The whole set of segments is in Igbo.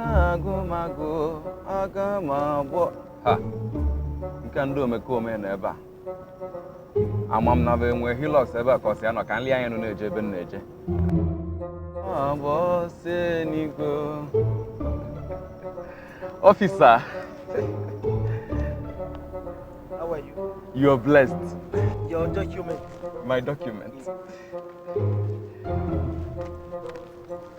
agụmagụ aga m agbọ ha nke ndị omekome nọ ebe a ama m na bụ enwe Hilux ebe a ka ọsị ya nọ ka nri ya enu na-eje ebe m na-eje agbọ ọsị n'igwe officer How are you? you are blessed Your document. my document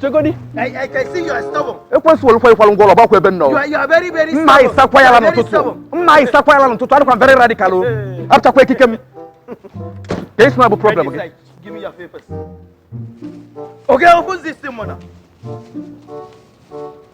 chegodi ekwesịwolụkwa ịkwalụ ngwa ụlọ gbakwa ebe nnọọ mma anyị sakwa ya la n'ụtụtụ mma anyị sakwa ya la n'ụtụtụ adịkwa m very radical o apụtakwa ekike m ka isi na bụ problem gị Okay, who's this thing, mother?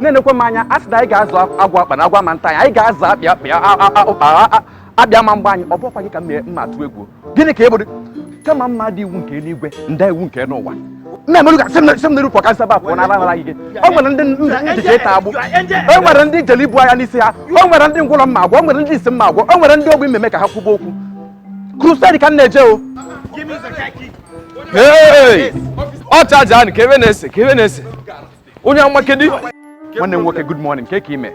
nenekwa m anya a sị na anyị ga-azụ agwa akpa na agwa ma nta anyị anyị ga-azụ akpị akpị a- a- a- ụkpa a- a- abịa ma mgbe anyị ọ bụkwa gị ka m mee- m ma-atụ egwu gịnị ka ị bụdị kama m ma-ada iwu nke eluigwe m daa iwu nke n'ụwa nna emerụ ka si m na- si m n'iru pụọ ka m si ebe a pụọ na ala na-ayị gị o nwere ndị m ji eje ịtọ agbụ o nwere ndị jeli ibu anya n'isi ha o nwere ndị ngwụrọ m ma-agwọ o nwere ndị isi m ma-agwọ o nwere ndị ogbi m ma-eme ka ha kwuba okwu crusade ka m na-eje o Hey! ọ chaja anị ka ebe na-ese ka ebe na-ese onye amakedi nwanne m nwoke good morning kee ka i me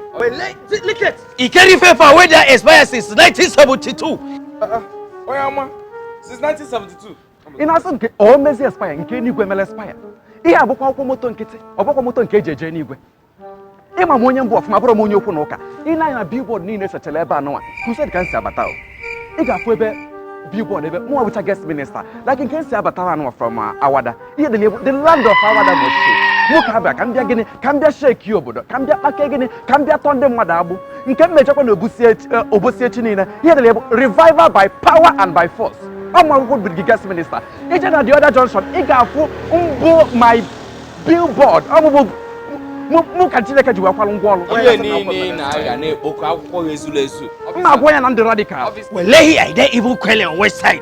e carry paper wey dey expire since 1972 onye ama since 1972 ị na-asị nke ụwa mezi expire nke eluigwe mere expire ihe a ọ bụkwa akwụkwọ moto nkịtị ọ bụkwa moto nke e ji eje eluigwe ị ma m onye m bụ ọfụma abụrọ m onye okwu na ụka i nee anya na billboard niile sechara ebe anụnwa crusade ka m si abata o ị ga-afụ ebe billboard ebe mụnwa bụcha guest minister like nke m si abatara anụnwa from uh, Awada ihe dị na ya bụ the land of Awada must shake nwoke abịa ka m bịa gịnị ka m bịa shake obodo ka m bịa kpake gịnị ka m bịa tọọ ndị mmadụ agbụ nke m mechakwa na Obosi echi eh, Obosi echi niile ihe dị na ya bụ revival by power and by force ọ mụwakwa bụ the guest minister i jee na the other junction ị ga-afụ mbụ my billboard ọ mụ bụ mụ- mụ ka chineke ji wee kwalụ ngwa ọrụ ihe niile ị na-agha na-ekpokọ akwụkwọ gị ezurọ ezu m ma-agwa ya na m dị radical Wallahi I dey even quail on west side.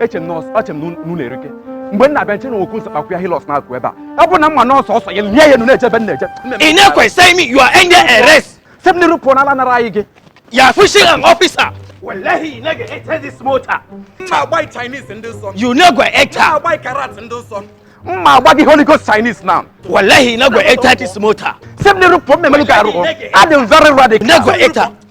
eche m nọọsụ eche m n'ụlọ erike mgbe m na-abịa nche na okwu nsakpakwu ya Hilux na-akụ ebe a ọ bụ na mma nọọsụ ọsọ ya nye ya enu na-eje ebe m na-eje ị na-ekwesịghị m you are under arrest si m n'iru pụọ na ala na-ayị gị you are pushing an officer Wallahi, you no go enter this motor. mma agba gị Chinese in this sun. You no go enter. mma agba gị karate in this sun. mma agba gị holy ghost chinese now wallahi no go enter this motor si m n'iru pụọ m melụọ gị arụ adị m very radical no go enter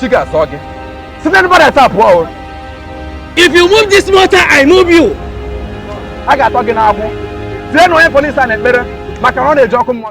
chi ga-azọ gị site n'ebe a dapụ o if you move this motor i move you a ga-atọ gị n'agbụ tinyenụ onye police a n'ekpere maka na ọ na-eje ọkụ mmụọ